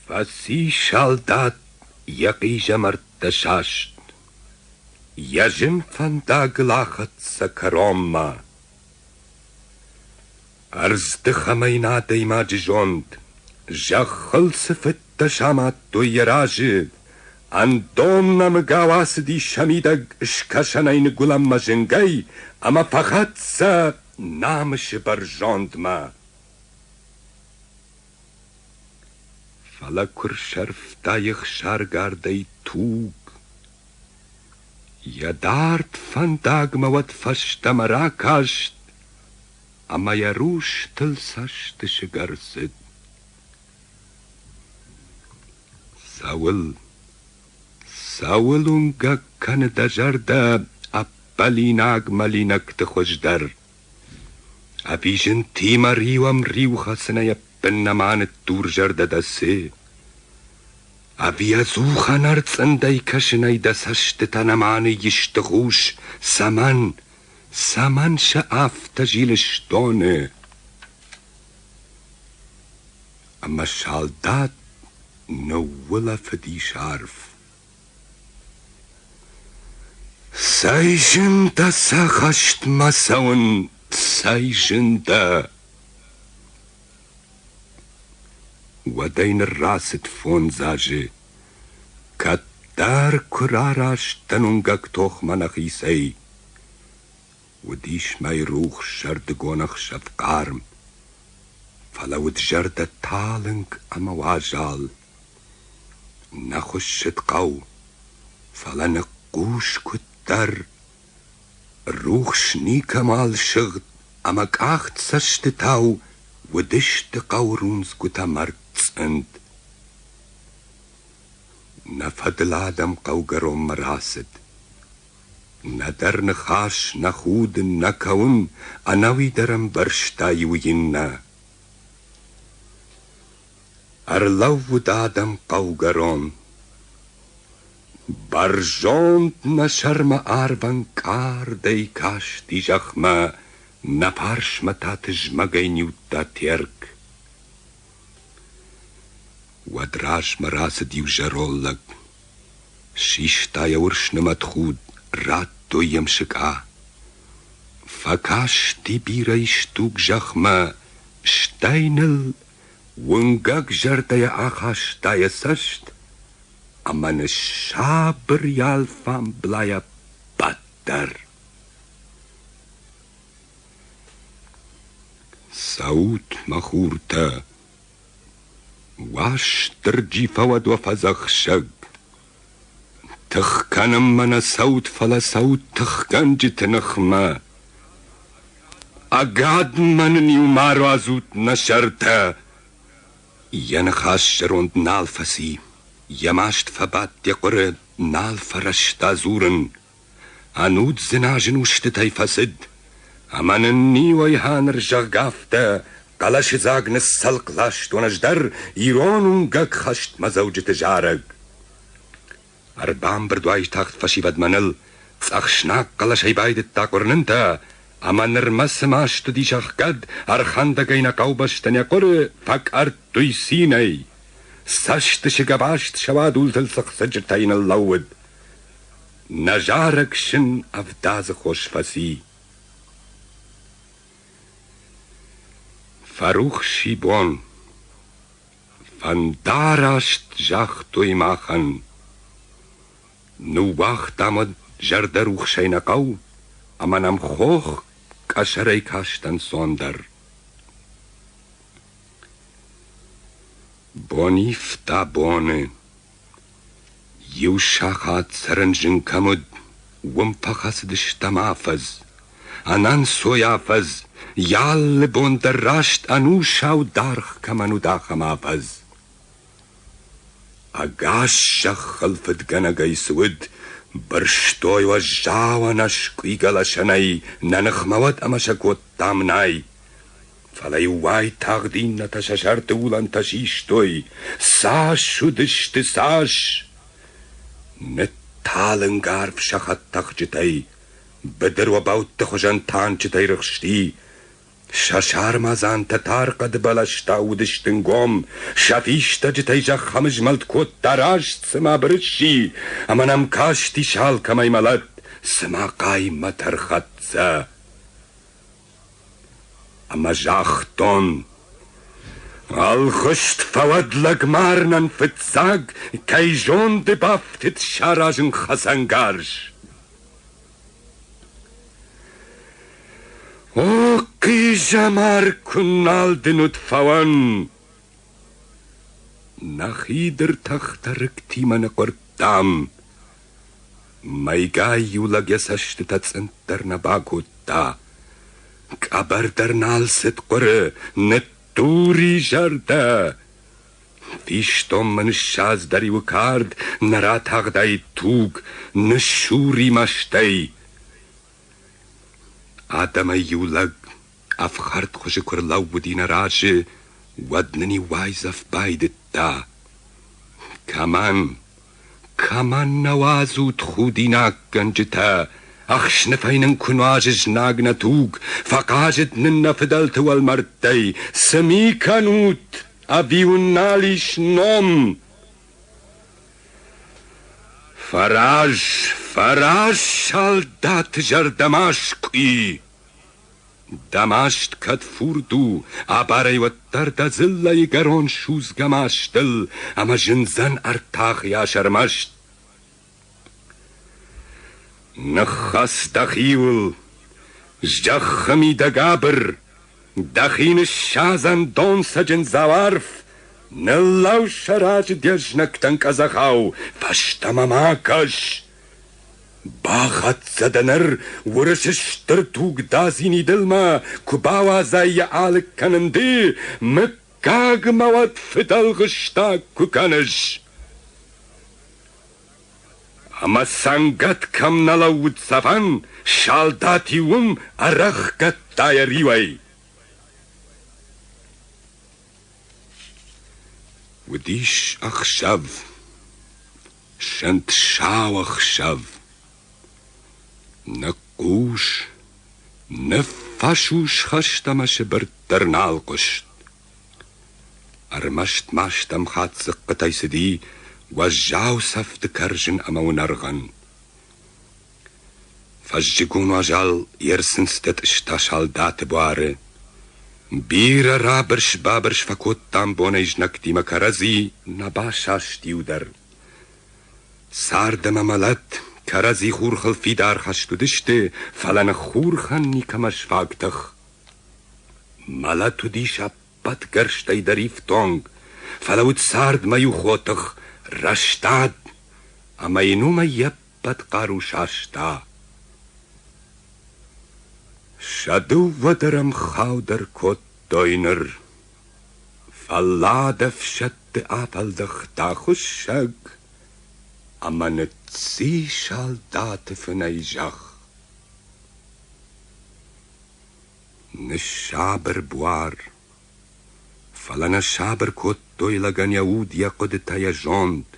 Фӕци салдат йӕ хъизӕмӕрттӕ саст, Йӕ зын фӕндагыл ахӕццӕ кӕронмӕ. Ӕрздыхӕмӕ йын адӕймаджы зонд, Зӕххыл цы фыдтӕ самадтой йӕ разы, Ӕндон нӕмыгау ацыди сӕ мидӕг Скӕсӕнӕй ныгуылӕнмӕ зынгӕй Ӕмӕ фӕхӕццӕ намысы бӕрзондмӕ. Фӕлӕ куы рсӕрфта ехсаргардӕй туг. Йӕ дард фӕндагмӕ уӕд фӕстӕмӕ ракаст Ӕмӕ йӕ рустыл цӕстысыгӕрзыд. Цӕуыл, цӕуыл уынгӕг кӕны дӕ зӕрдӕ Ӕппӕлинаг мӕлинӕгты хуыздӕр? Ӕви зынтимӕ риуӕм риухӕцынӕй ӕппын нӕма ныддурзӕрдӕ дӕ цы? Ӕви ӕдзухӕн ӕрцъындӕй кӕсынӕй дӕ цӕстытӕ нӕма ныйисты хъус? Цӕмӕн, цӕмӕн сӕ афтӕ зилыс доны? Ӕмӕ салдат ныуулӕфыдис арф. Цӕй зындӕ сӕ хӕстмӕ цӕуын, цӕй зындӕ! Уӕдӕй ныррацыд фондз азы, кӕддӕр куы рараст дӕн уынгӕг тохмӕ нӕхицӕй. Уыдис мӕйрухс сӕрдыгон ӕхсӕв хъарм, Фӕлӕ уыд зӕрдӕ талынг ӕмӕ уазал. Нӕ хуыссыд хъӕу, фӕлӕ ныхъхъус куыддӕр, Рухс никӕмал сыгъд ӕмӕ къахт цӕстытау Уыдысты хъӕурындзгуытӕ мӕрдцъынд. Нӕ фӕдыл адӕм хъӕугӕронмӕ рацыд, Нӕдӕр ныхас, нӕ худын, нӕ кӕуын, ӕнӕуи дӕр ӕмбӕрста иу иннӕ. Ӕрлӕууыд адӕм хъӕугӕрон. Бӕрзонд нӕ сӕрмӕ ӕрвӕнкъардӕй касти зӕхмӕ, Нӕ фарсмӕ та тызмӕгӕй ниудта Терк. Уӕд размӕ рацыд иу зӕроллаг. Систа йӕ уырсны мӕтхуд, радтой йӕм сыкъа. Фӕкасти бирӕ исдуг зӕхмӕ, стӕй ныл уынгӕг зӕрдӕйӕ ахаста йӕ цӕст ӕмӕ ныссабыр йӕ алфамблайӕ баддӕр. Цӕут, мӕ хуртӕ, Уастырджи фӕуӕд уӕ фӕдзӕхсӕг! Тых кӕнынмӕ нӕ цӕут, фӕлӕ цӕут тыхгӕнджыты ныхмӕ! Ӕгадмӕ нын-иу ма руадзут нӕ сӕртӕ! Йӕ ныхас зӕронд нал фӕци, йӕ маст фӕбадт йӕ хъуыры, нал фӕрӕзта дзурын. Ӕнуд дзыназын устытӕй фӕцыд, ӕмӕ нын ниуӕйха ныр, зӕгъгӕ, афтӕ хъӕлӕсыдзаг ныццӕлхъ ластон ӕз дӕр ирон уынгӕг хӕстмӕдзӕуджыты зарӕг. Ӕрбамбырд уайтагъд фӕсивӕдмӕ ныл, цъӕхснаг хъӕлӕсӕй байдыдта къуырнынтӕ, ӕмӕ нырмӕ цыма стыдис ӕхгӕд, ӕрхӕндӕгӕй нӕ хъӕубӕсты нӕ хъуыры фӕкъӕрттуй цинӕй. Цӕстысыг ӕваст сӕуадултыл цыхцырджытӕй ныллӕууыд. Нӕ зарӕг сын ӕвдадзы хос фӕци. Фӕрухс и бон, фӕндараст загътой махӕн. Ныууагътам ӕд зӕрдӕрухсӕй нӕ хъӕу, ӕмӕ нӕм хох къӕсӕрӕй кастӕнцон дӕр. Бон ивта боны, Иу сахат сӕрынджын кӕм уыд, уым фӕхӕцыдыстӕм афӕдз. Ӕнӕнцой афӕдз, йӕ алы бон дӕр раст ӕнусау даргъ кӕмӕн уыд, ахӕм афӕдз. Ӕгас зӕххыл фыдгӕнӕгӕй цы уыд, бырстой уӕззау ӕнӕскъуыйгӕ лӕсӕнӕй, нӕ ныхмӕ уӕд ӕмӕ сӕ кодтам нӕй. Фӕлӕ-иу уайтагъд иннӕтӕ сӕ сӕрты уылӕнтӕ систой. Цас уыдысты, цас! Нытталынг арв сӕ хӕдтӕхджытӕй, быдыр обӕутты хуызӕн танчытӕй рыхсти. Сӕ сармадзантӕ тар хъӕды бӕлӕстӕ уыдысты нгом, сӕ фистӕджытӕй зӕхх ӕмызмӕлд кодта раст цыма бырысси, ӕмӕ нӕм касти, се алкӕмӕй мӕлӕт, цыма хъаймӕт ӕрхӕццӕ. Ӕмӕ загътон: «Ӕлгъыст фӕуӕд лӕгмарынӕн фыццаг, кӕй зонды бафтыд саразын хӕцӕнгарз!» «О, хъизӕмар, куы нал дын уыд фӕуӕн!» Нӕ хидыр тӕхтӕ рыгтимӕ ныхъуырдтам. Мӕйгай иу лӕг йӕ цӕстытӕ цъынд дӕр нӕ бакодта. Къӕбӕр дӕр нал цыд хъуыры, ныттури зӕрдӕ. Фистонмӕ ныссадздӕр иуы кард, нӕ ратагъдаид туг, ныссур и мастӕй. Адӕмӕй иу лӕг Ӕфхӕрд хуызы куы рлӕууыди нӕ разы, уӕд нын иу уайдзӕф байдыдта. Кӕмӕн, кӕмӕн нӕ уадзут худинаггӕнджытӕ, ӕхсныфӕй нын куы нуазы знаг нӕ туг, фӕхъазыд нын нӕ фыдӕлты уӕлмӕрдтӕй, цы ми кӕнут, ӕви уын нал ис ном? Фӕраз, фӕраз, салдаты зӕрдӕмӕскъуи! Дӕ маст кӕд фурд у, абарӕй уӕддӕр дӕ дзыллӕйгӕрон судзгӕ мастыл ӕмӕ зындзӕн ӕртахыйас ӕрмӕст. Ныххӕц дӕхиуыл, зӕххы мидӕг абыр, дӕхи ныссадзӕн донцӕджын дзауарф, ныллӕу сӕ раджы де знӕгтӕн къӕдзӕхау, фӕстӕмӕ ма кӕс! Бахӕццӕ дӕ ныр Уырысы стыр тугдадзини дылмӕ, Куы бауадзай йӕ алыг кӕнын ды, Мыггагмӕ уӕд фыдӕлгъыстаг куы кӕныс. Ӕмӕ цӕнгӕт кӕм нӕ лӕууыд цӕфӕн, Салдат-иу уым ӕрӕхгӕдта йӕ риуӕй. Уыдис ӕхсӕв. Сӕнт сау ӕхсӕв. Нӕ хъус, нӕ фӕсус хӕст ӕмӕ сыбыртт дӕр нал хъуыст. Ӕрмӕст ма стӕм хатт дзыхъхъытӕй цыди уӕззау цӕфты кӕрзын ӕмӕ уынӕргъӕн. Фӕззыгон уазал йе рсындзтӕ тъыста салдаты буары. Бирӕ рабырс-бабырс фӕкодтам бонӕй знӕгтимӕ кӕрӕдзи, нӕ басаст иу дӕр. Цард ӕмӕ мӕлӕт кӕрӕдзи хурхыл фидар хӕст уыдысты, фӕлӕ ныххурхӕн никӕмӕ сфаг тых. Мӕлӕт уыдис ӕппӕтгӕрстӕй дӕр ифтонг, фӕлӕ уыд цардмӕ иу хотых, рӕстад, ӕмӕ йын уымӕй йӕ хъӕд-хъару саста. Сӕ дыууӕдӕр ӕмхау дӕр кодтой ныр. Фӕллад ӕфсӕдты афӕлдӕхта хуыссӕг, ӕмӕ ныцци салдаты фынӕй зӕхх. Ныссабыр буар, фӕлӕ нӕ сабыр кодтой лӕгӕн йӕ уд, йӕ хъуыдытӕ, йӕ зонд.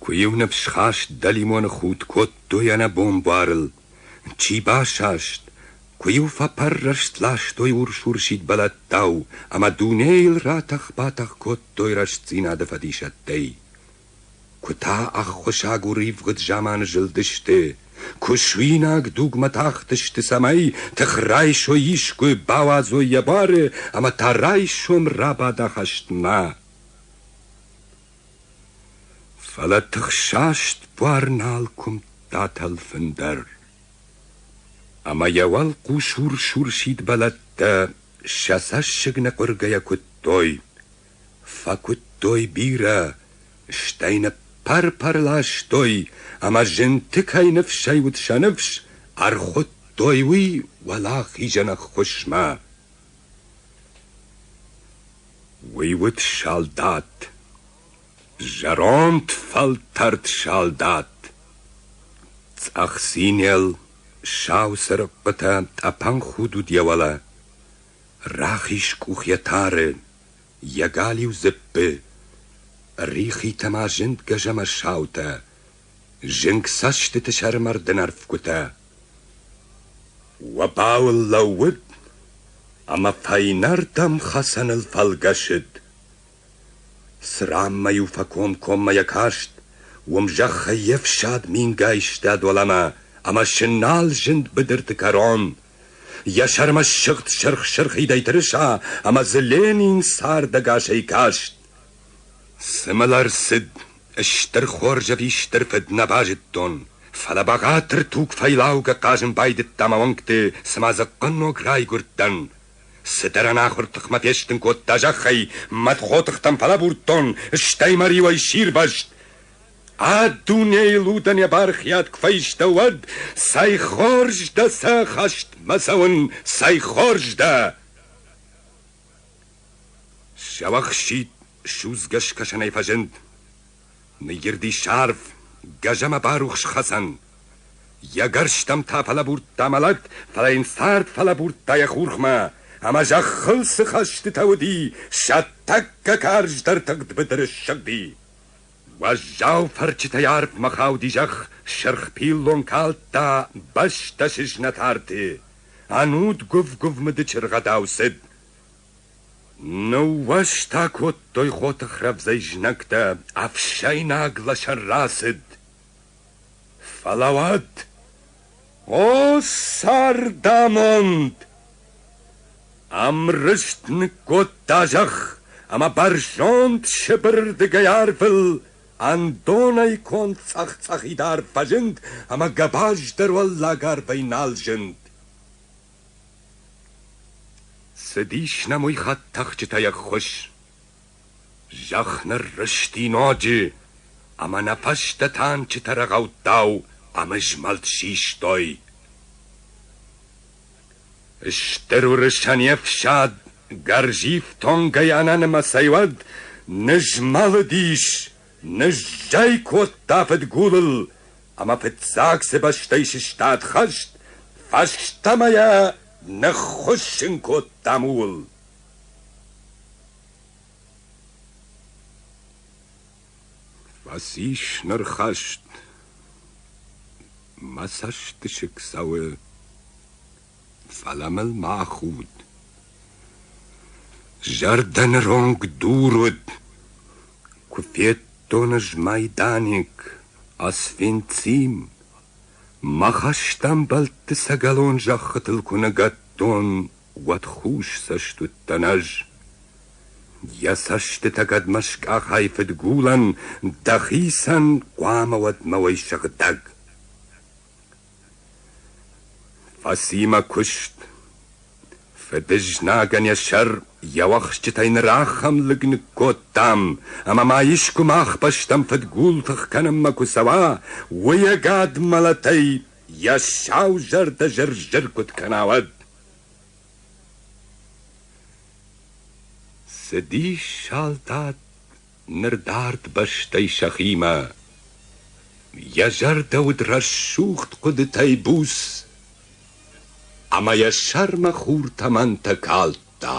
Куы-иу ныфсхаст дӕлимоны худт кодтой ӕнӕ бомбарыл, чи басаст, куы-иу фӕпӕррӕст ластой урс-урсид бӕлӕттау ӕмӕ дунейыл ратӕх-батӕх кодтой рӕстдзинады фӕдисӕттӕй. Куы та ӕххуысаг уривгъуыд заманы зылдысты, куы суинаг дугмӕ тахтысты, цӕмӕй тыхрайсой искуы бауадзой йӕ буары ӕмӕ та райсом рабада хӕстмӕ. Фӕлӕ тыхсаст буар нал куымдта тӕлфын дӕр. Ӕмӕ йӕ уӕлхъус урс-урсид бӕлӕттӕ сӕ цӕссыг ныкъуыргӕйӕ куыдтой, фӕкуыдтой бирӕ, стӕй ныппӕр-пӕр ластой, ӕмӕ зынты кӕй ныфсӕй уыд сӕ ныфс, ӕрхуыдтой уый уӕлахизӕн ӕххуысмӕ. Уый уыд салдат, зӕронд фӕлтӕрд салдат, цъӕх цинел, сау цырыхъхъытӕ тъӕпӕн худ уыд йӕ уӕлӕ, рахиз къух йӕ тары, йӕ галиу дзыппы, рихитӕ ма зынд гӕзӕмӕ саутӕ, Зынг цӕстыты сӕрмӕрдын ӕрфгуытӕ. Уобауыл лӕууыд ӕмӕ фӕйнӕрдӕм хӕцӕныл фӕлгӕсыд. Цыранмӕ-иу фӕкомкоммӕ йӕ каст, уым зӕххӕй йе фсад мингай стад уӕлӕмӕ ӕмӕ сынал зынд быдырты кӕрон. Йӕ сӕрмӕ ссыгъд сырх-сырхидӕй тырыса ӕмӕ дзы Ленин цардӕгасӕй каст. Цы мыл ӕрцыд Стыр хорз ӕви стыр фыд нӕ базыдтон, фӕлӕ бӕгъатыр туг фӕйлаугӕ хъазын байдыдта мӕ уӕнгты, цыма дзыхъхъын ног райгуырдтӕн. Цыдӕр ӕнахуыр тыхмӕ фестын кодта зӕххӕй, мӕтхотыхтӕм фӕлӕбурдтон, стӕй мӕ риуӕй сирвӕзт. А дунейыл удӕн йӕ бархиад куы фӕистӕ, уӕд цӕй хорз дӕ сӕ хӕстмӕ цӕуын, цӕй хорз дӕ! Сӕ уӕхсчит Судзгӕ скӕсӕнӕй фӕзынд. Ныйирди сарв, гӕзӕмӕ барухс хӕцӕн. Йӕ гӕрзтӕм та фӕлӕбурдта мӕлӕт, фӕлӕ йын цард фӕлӕбурдта йӕ хурхмӕ, ӕмӕ зӕххыл цы хӕстытӕ уыди, сӕ тӕккӕ карздӕр тыгъд быдыры ссыди. Уӕззау фӕрчытӕй арвмӕ хауди зӕхх, сырх пиллон калдта бӕстӕ сызнӕт арты. Ӕнуд гуыв-гуывмыды чыргъӕдау цыд. Ныууӕзтӕ кодтой хоты хрӕвдзӕй знӕгтӕ, Ӕфсӕйнаг лӕсӕн рацыд. Фӕлӕ уӕд, о цардамонд! Ӕмрызт ныккодта зӕхх, ӕмӕ бӕрзонд Сыбырырдыгӕй арвыл ӕндонӕй конд цъӕх-цъӕхид арв фӕзынд, ӕмӕ гӕбӕздӕр уӕллаг арвӕй нал зынд. Цыдис нӕм уыйхатт тӕхджытӕй ӕххуыс. Зӕхх ныррызти ноджы, ӕмӕ нӕ фӕстӕ танчытӕ рӕгъӕуттау ӕмызмӕлд систой. Стыр уырысӕн йе фсад гӕрзифтонгӕй ӕнӕнымӕцӕй уӕд нызмӕлыдис Ныззӕй кодта фыдгулыл ӕмӕ фыццаг цы бӕстӕй сыстад хӕст, фӕстӕмӕ йӕ ныххуыссын кодтам ууыл. Фӕцис ныр хӕст. Мӕ цӕстысыг цӕуы, фӕлӕ мыл ма худ. Зӕрдӕ ныронг дур уыд, Куы федтон ӕз майданьг, Освенцим, Мӕ хӕстӕмбӕлтты сӕгӕлон зӕххытыл куы ныгӕдтон, Уӕд хус цӕст уыдтӕн ӕз. Йӕ цӕстытӕ кӕдмӕ скъахай фыдгулӕн, Дӕхицӕн хъуамӕ уӕд мӕ уой сыгъдӕг. Фӕсимӕ куыст. Фыдызнагӕн йӕ сӕр йӕ уӕхсчытӕй ныр ахӕм лыг ныккодтам, ӕмӕ ма искуы мах бӕстӕм фыдгул тых кӕнынмӕ куы цӕуа, уый ӕгад мӕлӕтӕй йӕ сау зӕрдӕ зыр-зыр куыд кӕна, уӕд. Цы дис, салдат, Ныр дард бӕстӕй сӕхимӕ. Йӕ зӕрдӕ уыд рӕсугъд хъуыдытӕй буц, Ӕмӕ йӕ сӕрмӕ хур тӕмӕнтӕ калдта.